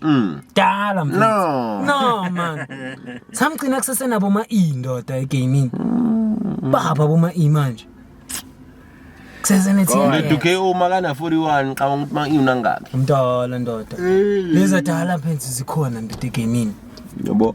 Mm. Dala mfethu. No. No man. Samgcina kusesenabo ma E ndoda egaming. Mm. Baba boma E manje. Kusesene team. Kodwa duke uma kana 41 xa ukuthi ma iwuna ngakhe. Mdala ndoda. Leza dala mfethu zikhona ndoda egaming. Yebo.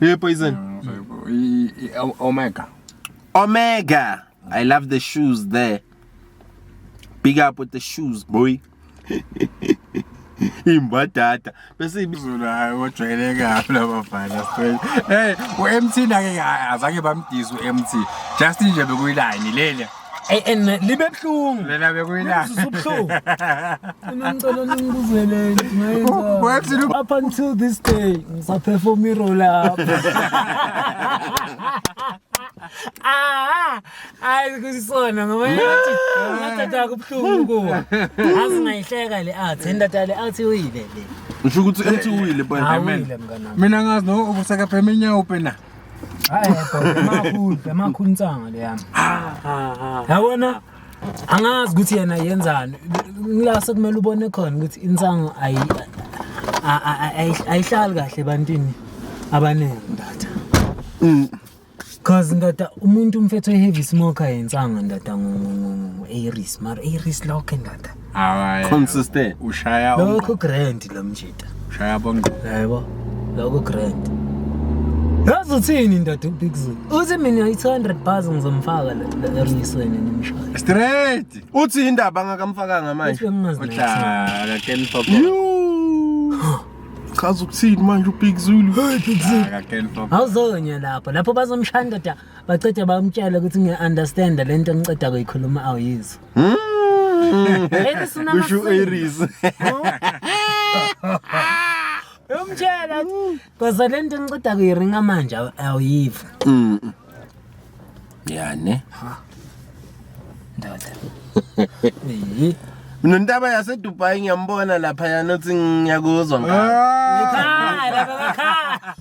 Hey, poison. Omega. Omega. I love the shoes there. Big up with the shoes, boy. imbadada bese ibizulu hayi wojwayeleke kabi labafana straight hey u-mt nake azange bamdise u-mt just nje bekuyilayini leli Ey and libe buhlungu. Lena bekuyila. Ubuhlungu. Ngicela ningibuzele ngayenza. Up until this day ngisaperform i-roll up. Ah, hayi kusona ngoba yathi ngathatha kubuhlungu kuwa. Azi ngayihleka le art, indata le art uyile le. Usho ukuthi ethi uwile bwana. Awile mngana. Mina ngazi no ukuseka phema inyawo pena. Hayi bhuti emakhulu emakhulu insanga le yami. Yabona angazi ukuthi yena yenzani. La sekumele ubone khona ukuthi insanga ayi a- a- a- ayi- ayihlali kahle ebantwini abaningi ndatha. Mm. Cause ndoda umuntu umfethu oheavy smoker yensanga ndoda ngo ngo ngo ngo Aries mara Aries lokho ndoda. Hayi. Consistent. Ushaya onqo. Lokho grand lo mjita. Ushaya bonqo. Yebo. Lokho grand. Yazi uthini ndoda ubigzulu? Uthi mina i-200 bars ngizomfaka la erisweni nimshaya. Straight. Uthi indaba angakamfakanga manje. Uthi bengingazi. Cha, Ken Pop. Chaza ukuthini manje uBig Zulu? Hey Big Zulu. Cha, Ken Pop. Awuzonya lapho. Lapho bazomshaya ndoda bacede bamtshela ukuthi ngiya-understand le nto engiceda kuyikhuluma awuyizwa. Mm. Aries unama Kusho singles. Aries. Uyomtshela ukuthi koza le nto ngiceda kuyiringa manje aw- awuyiva. Mm. Yani. Ndoda. Eh. Mina ntaba yase Dubai ngiyambona lapha yanothi ngiyakuzwa ngalo. Ekhaya, baba ekhaya.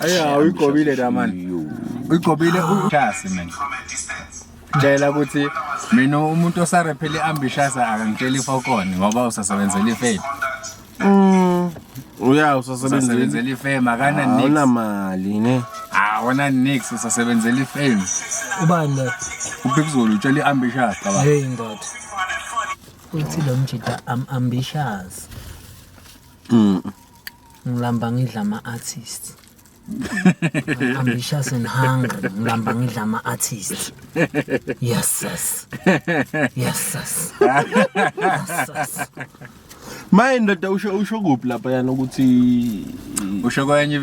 Aya uyigobile la man. Uyigobile uJasi man. Ngicela ukuthi mina umuntu osarephele ambitious akangitsheli fokoni ngoba usasebenzela ifame. Mm. Uya usasebenzela Usasebenzela ifame akana nix. awuna mali ne. Awona nix usasebenzela ifame. ubani lo Ubhekuzulu utshela iambitious baba. hey ndoda uthi lo mjida am ambitious Mm. ngilamba ngidla ama-artist I'm ambitious and hungry ngilamba ngidla ama-artist yes sis yes sis yes sis maye ndoda usho usho kuphi lapha yana ukuthi usho kwenye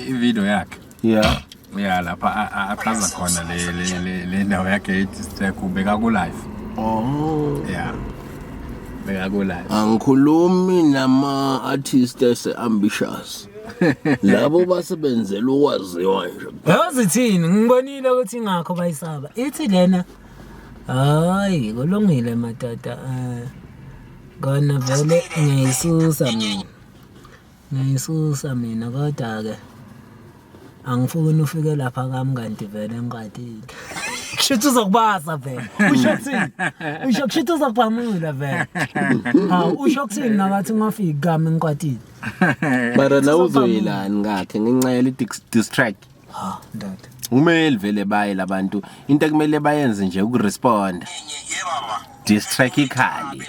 ivideo yakhe yeah ya lapha a- a- achaza khona le- le- le- le ndawo yakhe ethi sithekhu bekakulayo oh ya bekakulayo angikhulumi nama artist ese ambitious labo basebenzela ukwaziwa nje yazi thini ngibonile ukuthi ingakho bayisaba ithi lena hayi kulungile matata um kona vele ngiyayisusa mina Ngiyisusa mina kodwa-ke angifuni ufike lapha kami kanti vele ngiqadile. Kushuthi uzokubaza vele. Usho kuthini? Usho kushuthi uzokubamula vele. Hawu usho kuthini nakathi ungafiki kami ngiqadile. Mara la uzoyelani ngakhe ngenxa yale dis- diss track. Ha ndoda. Kumele vele baye labantu into ekumele bayenze nje ukurespond. Diss track ikhali.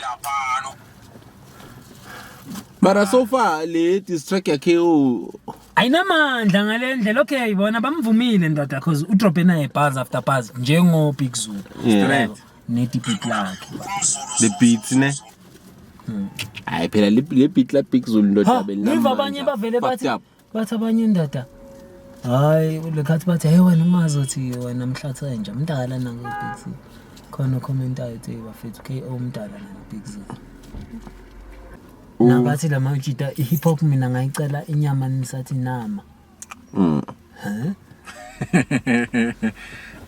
mara so far le diss track yakhe u- ayinamandla ngale ndlela okay bona bamvumile ndoda because udrobe naye bars after bars njengobig zulu Yeah. Straight. nedipit lakhe the beats ne hayi phela le le beat la big zulu ndoda Ha, ngiva abanye bavele bathi Fucked up. bathi abanye indoda hayi lekhathi bathi hey wena umazi othi wena mhlathi wenja mdala nangebigz khona okhomentayo ethi bafethu k o mdala nangebigz nabathi la mawujita i-hip hop mina ngayicela inyama nisathi nama mm.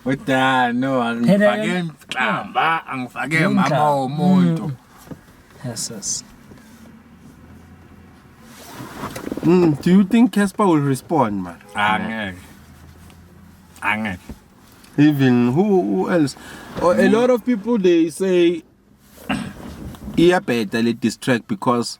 udano angifake mhlamba angifake mama womuntu mm. Yes, Mm, do you think Casper will respond, man? Angeke. Angeke. Even who, who else? Oh, a lot of people they say iyabheda le diss track because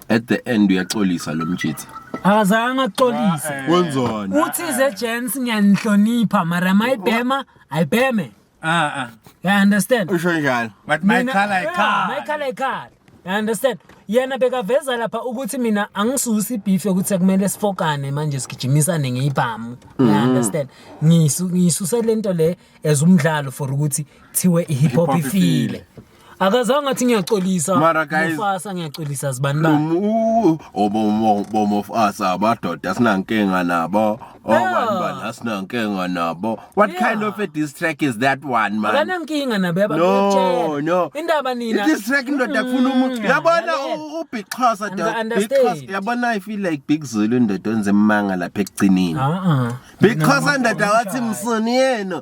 at the end uyaxolisa lo mjitha. Akazange axolise. Wenzani? Uthi ze gents ngiyanihlonipha mara mayibhema ayibheme. Ah, ah. You understand? Usho njalo. But my Mina- color Yeah, ikhala. my color ikhala. You understand? Yena bekaveza lapha ukuthi mina angisusi beef yokuthi sekumele sifokane manje sigijimisane ngeyibhamu. You Mm-hmm. understand? Ngisu ngisuse lento le as umdlalo for ukuthi thiwe i hip hop Hip hop ifile. ifile. akazange athi ngiyaxolisa Mara guys- mufasa ngiyaxolisa zibani ba Umu- obomo- bomofasa abadoda sinankinga nabo abantu bala sinankinga nabo what Yeah. kind of a diss track is that one man akanankinga nabe no ababatshela no indaba nina Mm. this track ndoda kufuna umuntu yabona lalela. u- ubixhosa And- doda understand. Bixhosa, yabona i feel like big zulu ndoda onze manga lapha ekugcinini Ah, ah. bixhosa ndoda wathi msuni yena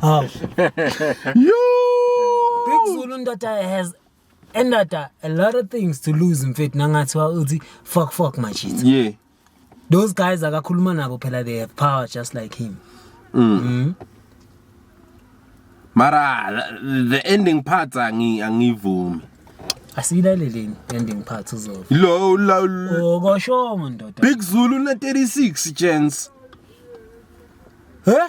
Hawu. Big Zulu ndoda has endoda a lot of things to lose mfethu nangathi wa uthi fuck fuck my shit. Yeah. Those guys akakhuluma nabo phela they have power just like him. Mara the- the ending part angi angivumi. Asiyilaleleni ending part uzova. Lo lo lo- Okoshongo ndoda. Big Zulu na 36 chance. Huh?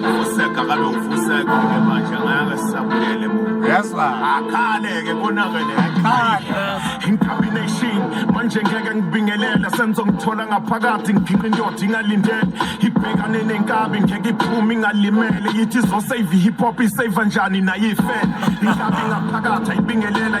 Fuseka kaloku fuseka ke manje ngeke sisabuyele emuva. Yezwa. Akhale ke konakele akhale. Incombination manje ngeke ngibingelela senzo ngithola ngaphakathi ngiphiqa indoda ingalindele ibhekane nenkabi ngeke iphume ingalimele yithi izosave i-hip hop isave njani nayo ifele inkabi ngaphakathi ayibingelela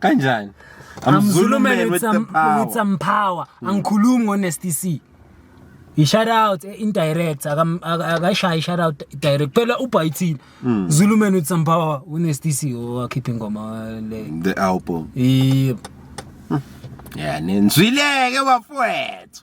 kanjani I'm Zulu man with some power. With some power. Mm. Angikhulumi ngo Nasty C. He shout out eh, indirect akashayi shout out direct phela ubhayithini mm. Zulu man with some power u Nasty C owakhipha oh, ingoma le the album. Yep. Hmm. Yeah, nenzwileke bafowethu.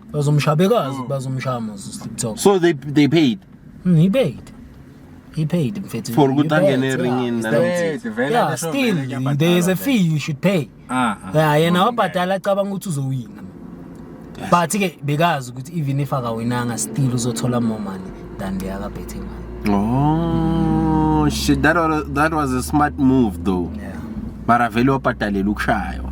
bazomshaya bekazi mm. bazomshaya mos uslip talk so they they paid mm, he paid he paid mfethu for ukuthi angene eringini yeah still there is a fee you should pay ah, ah. yeah yena wabhadala acabanga ukuthi uzowina but ke bekazi ukuthi even if akawinanga still uzothola more money than the other betting man oh shit that was, that was a smart move though yeah mara vele wabhadalela ukushaywa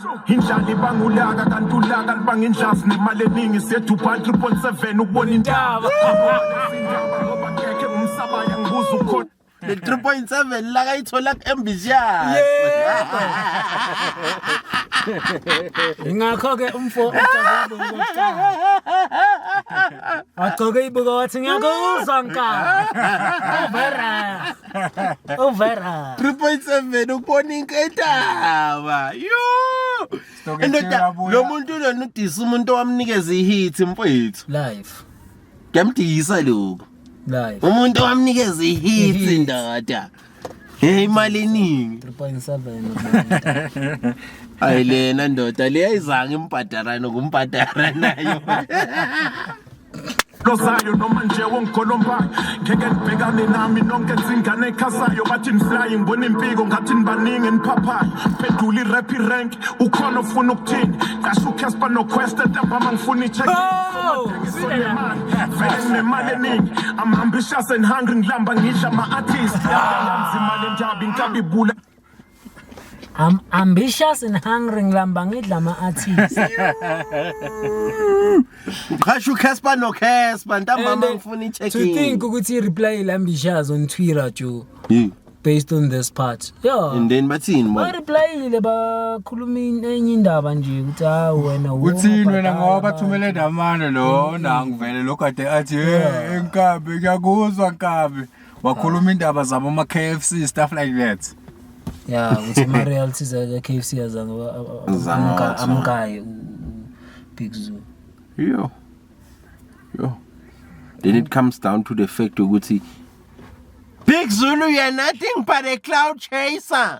indlala ibanga ulaka kanti ulaka libanga indlavu nemali eningi sethu ubhal 3.7 ukubona intaba umsabaya ngibuza ukhona le 3.7 la kayithola ku-embisias ingakho-ke umfo wagcoke ibuka wathi ngiyakuzwa nkala Uvera. 3.7 ukubona inketaba. Yo! Indoda lo muntu lona udisa umuntu owamnikeza ihit mfowethu. Life. Ngamdisa lokho. Life. Umuntu owamnikeza ihit indoda. Hey imali eningi. 3.7. Ayilena ndoda leyizanga imbhadarana kumbhadara nayo. lozayo noma nje wongigolombayo ngeke nibhekane nami nonke nzingane ekhasayo bathi niflayi ngibona impiko ngathi nibaningi eniphaphayo pedula irap irank ukhona ofuna ukuthini qasha ucasper noquest entambama ngifuna Oh, ichekimali vele nginemali eningi i'm ambitious and hungry ngilamba ngidla ama-artist yamzimali enjabi ngikabibula I'm ambitious and hungry ngilamba ngidla ama artists. Uqhasha uCasper no Casper ntambama And, ngifuna i-check To in. think ukuthi reply ilambishazi on Twitter jo Yeah. based on this part. Yeah. And then bathini Ba manje? replyile bakhuluma in- enye indaba nje ukuthi ha wena wo, uthini wena ubhadala ngoba abantu. bathumele ndamane lona ngivele lokhu ade athi "Eh, enkabi ngiyakuzwa nkabi wakhuluma indaba zabo ama KFC stuff like that ya ukuthi ama realities aka KFC azange ba- a- a- Azange amka- wathi. amkaye u- u- Big Zoo yo yo then it comes down to the fact ukuthi Big Zulu you're nothing but a cloud chaser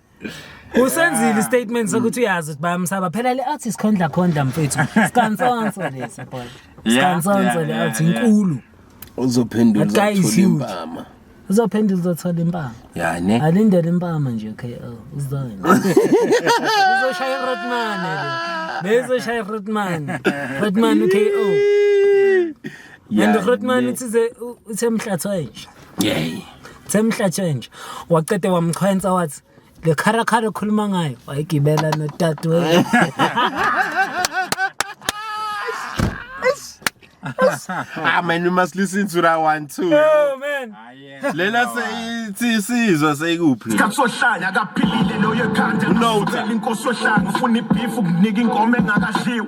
usenzile istatement sokuthi uyazi ukuthi bayamsaba phela le artist khondla khondla mfethu sikansonso lesi boy sikansonso le artist inkulu uzophendula uzothola impama uzophendula uzothola impama ya ne alindele impama nje okay oh, uzona uzoshaya irotman le bezoshaya irotman rotman uko and rotman uthize uthe mhlathwa nje Yey. Semhla change. Waqede wamchwensa wathi le kharakhala okhuluma ngayo wayigibela nodadewethu. Ah man you must listen to that one too. Oh man. Lena seyithi isizwe seyikuphi? Kasohlanya akaphilile loyo ekhanda. No. Inkosi ohlanga ufuna ibeef ukunika ingoma engakadliwa.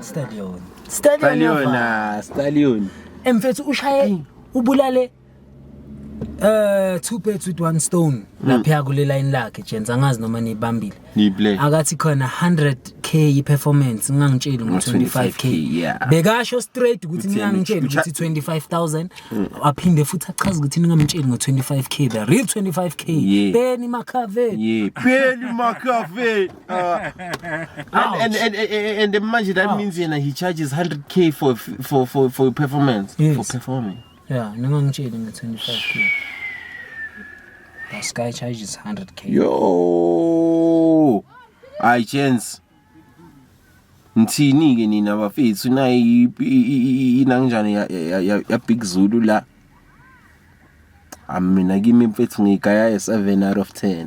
Stallion. Stallion. Ah, Stallion. Emfethu ushaye ubulale eh two birds with one stone hmm. lapha kule line lakhe Jensen angazi noma nibambile niplay akathi khona 100k i performance ngangitshela ngo 25k bekasho straight ukuthi ngangitshela ukuthi 25000 hmm. aphinde futhi achaza ukuthi ningamtsheli ngo 25k the real 25k beni makave yebeni makave Uh, and, and, and, and, and manje that Ouch. means yena he charges 100k for for for for performance yes. for performing yeah ningangitsheli nge 25k the sky charges 100k yo i chance ngithini ke nina bafethu nayi inangjani ya ya ya big zulu la amina kimi mfethu ngigaya 7 out of 10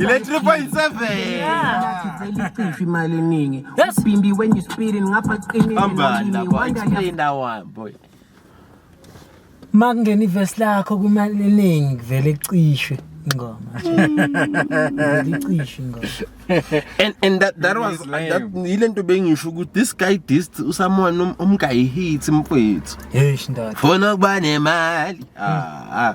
Ile 3.7 imali eningi ubhimbi when you speeding ngapha qinile ambanda boy inda one boy makungena ivesi lakho kumali eningi kuvele icishwe ingoma icishwe ingoma and and that that was that yilento bengisho ukuthi this guy dist usamona um, umgayi hit mfethu hey shindathi fona kuba nemali ah ah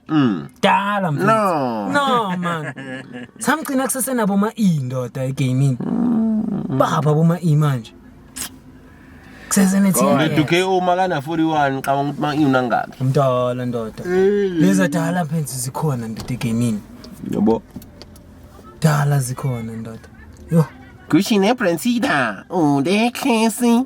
Mm. Dala mfethu. No. No man. Samgcina kusesenabo ma E ndoda egaming. Mm. Baba boma E manje. Kusesene team. Kodwa uDuke uma kana 41 qaba ukuthi ma iwuna ngakhe. Umdala ndoda. Leza dala mfethu zikhona ndoda egaming. Yebo. Dala zikhona ndoda. Yo. Gucci ne Brensida. Unde Casey.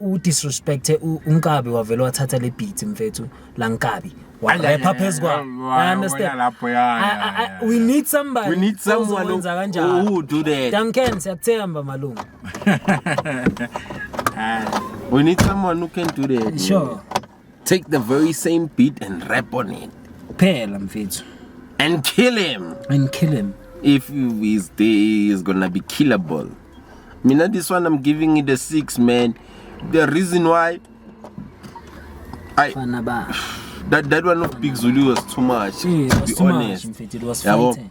u disrespect unkabi wavele wathatha le beat mfethu la nkabi warapha phezu kwa i understand lapho ya we need somebody we need someone owenza kanjalo who do that Duncan siyakuthemba malungu we need someone who can do that sure take the very same beat and rap on it kuphela mfethu and kill him and kill him if his day is gonna be killable mina this one i'm giving it a six man the reason why I, that, that one of big zulu was too much yeah, it was to be too honest much, it was yabo